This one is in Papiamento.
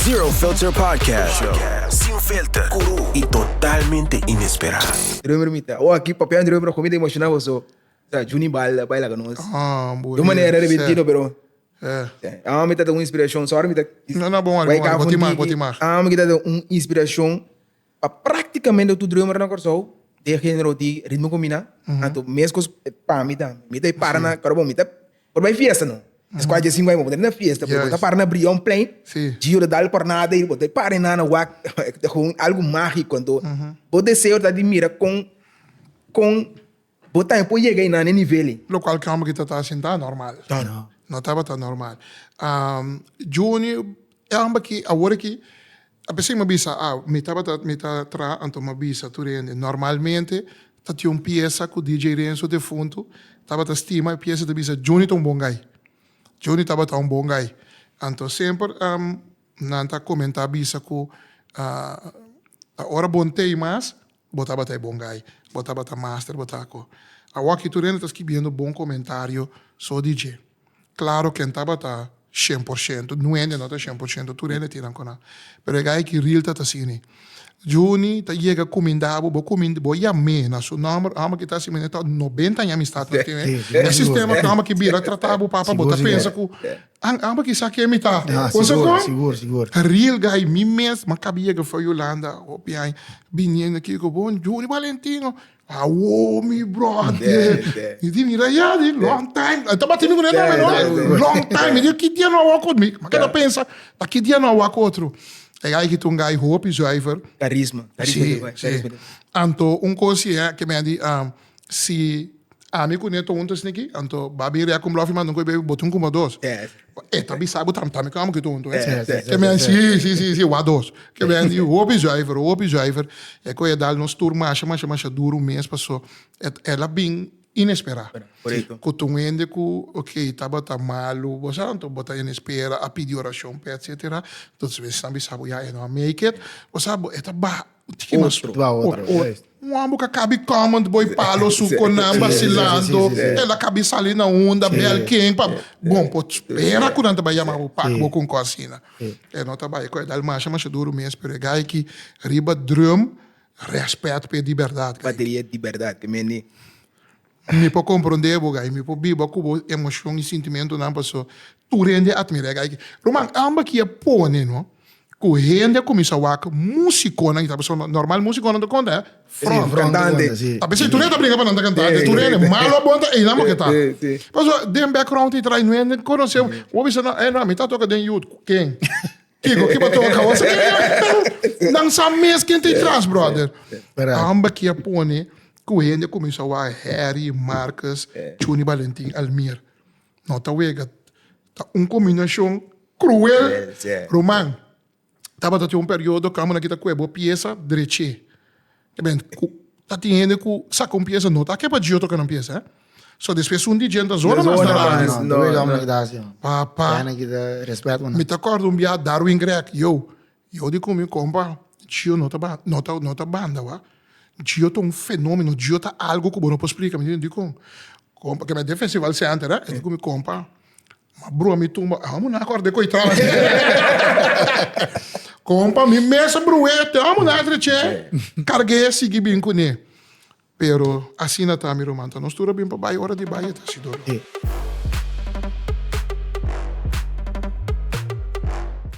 Zero Filter Podcast Show. Sin filter, cru y totalmente inesperado. Drummer mi ta, oh aki papian drummer con mi ta emociona boso sa Junie Bal a baila cu nos. Ah, Di un manera repentino pero eh ahora mi ta ta un inspiracion sorry mi ta No no bo mari, bo mari, bo tin mak, bo tin mak. Ahora mi ta ta un inspiracion. Pa practicamente tur drummer na Corsou den genero di ritmo cu mi na anto mescos pa mi tambe mi ta y para na Corobo mi ta por bay fiesta no es cua dje cinco aña bo ta na fiesta pero bo ta para na Brion plein Gio ta dal cornada y bo ta para y nana wak ta algo magico anto bo deseo ta di mira con con Bo tambe por yega i nan e nivel ei. Locual ki homber ki ta ta sin ta normal. No tabata normal. Juni, e homber ki awor aki, a pesey mi a bisa, mi tabata, mi ta traha anto mi a bisa tur hende, normalmente ta tin un piesa cu DJ Renzo defuntu tabata stima, e piesa ta bisa, Juni ta un bon guy. Juni tabata un bon guy. Anto semper nan ta comenta bisa cu ta ora bon tey mas Bo tabata e bon gai. Bo tabata master, bo ta ko. Awor aki tur hende ta skibiendo bon komentario so di dje. Klaro ken tabata shen por shento, nu hende no ta shen por shento, tur hende tin nan ku nan. Pero e gai aki ril ta ta asini. Juni ta yega kuminda bo, bo kuminda, bo yam'é na su nòmber, hòmber ki ta asina mi ta nobenta aña amistad nan tin, e sistema ku hòmber ki bira trata bo papa bo ta pensa ku Ang aba kisa ken mi ta. Con so con? A real guy mi mes ma caba yega for Yolanda hopi aña biniendo aki cu bo Juni Valentino awoo mi brother mi di mira ya di long time a tabata mi cu den nomber no long time mi di ki dia no a wak mi a keda pensa ta ki dia no a wak otro e guy aki ta un guy hopi zuiver carisma anto un cos ci e ke mi a di. Si ami ku Neto huntu esne aki, anto bo a bin rea ku Mlòfi manda un ko'i b'ei, bo tin kuma dos. E ta bisa bo tambe tambe ku amo kitu huntu. E mei a si, si, si, si, wak dos. Ke mei a di hopi zuiver, hopi zuiver. E ko'i a dal nos tur masha, masha, masha duru mes paso el a bin inesperá. Ku ta un hende ku, okey, tabata malu, bo sa, anto bo ta enespera, a pidi orashon p'e, etsetera. Entonces, esnan bisa bo, ya, e no a make it. Bo sa, bo, e ta baha. Tiki mas tro. Un homber ka kabi comment boy palo su konan basilando el a kabi sali na unda bel ken pa bon por spera ku nan ta bai yama bo pak bo con cos asina e no ta bai cu e dal masha masha duro mes pero e guy ki riba drum respect pe di berdad guy ki. Bateria di berdad te mende. Mi por comprende bo guy, mi por biba cu bo emocion y sintimentonan paso tur hende a admira e guy. Ruman, amba ki a pone no cu hende a cuminsa wak musiconan y ta paso no, normal musiconan ta conta front, cantante, ta pens'e tur hende ta bringa pa nan ta cantante, tur hende, malo o bon ta einan bo ke ta, paso den background y traino hende conoce bo, bo bisa no, eh no, mi ta toca den youth, cu ken? Kiko ki baton a kaba? Nan sa mes ken ta i tras, brother. Amba ki a pone ku hende a kuminsá wak Harry, Marcus, Chuni, Balentin, Almir. No ta wega. Ta un kombinashon kruel. Ruman, tabata tin un periodo kamannan ki ta ku'e bo piesa drech'é. Eben, ku ta tin hende ku saka un piesa no ta ke pa djio troka nan piesa, eh. So despues un di dje ta zona mas na radio. No, no, no, no, no. Papa. Tene na kita respet bo nan. Mi ta kòrda un biaha Darwin Grech, yo, yo di ku mi, Kompa, djio no ta ba, no ta, no ta banda, wak. Djio ta un fenomeno, djio ta algu ku bo no por splika. Mi di, dikon? Kompa, ke me den Festival Center, eh. E di ku mi, Kompa, Ma broer mi tumba amo na acorda e coi traba di compa mi mes a broe te amo na treche carge sigui bin cune pero asina ta mi ruman ta nos tur a bin pa bay ora di bay e ta si dolo.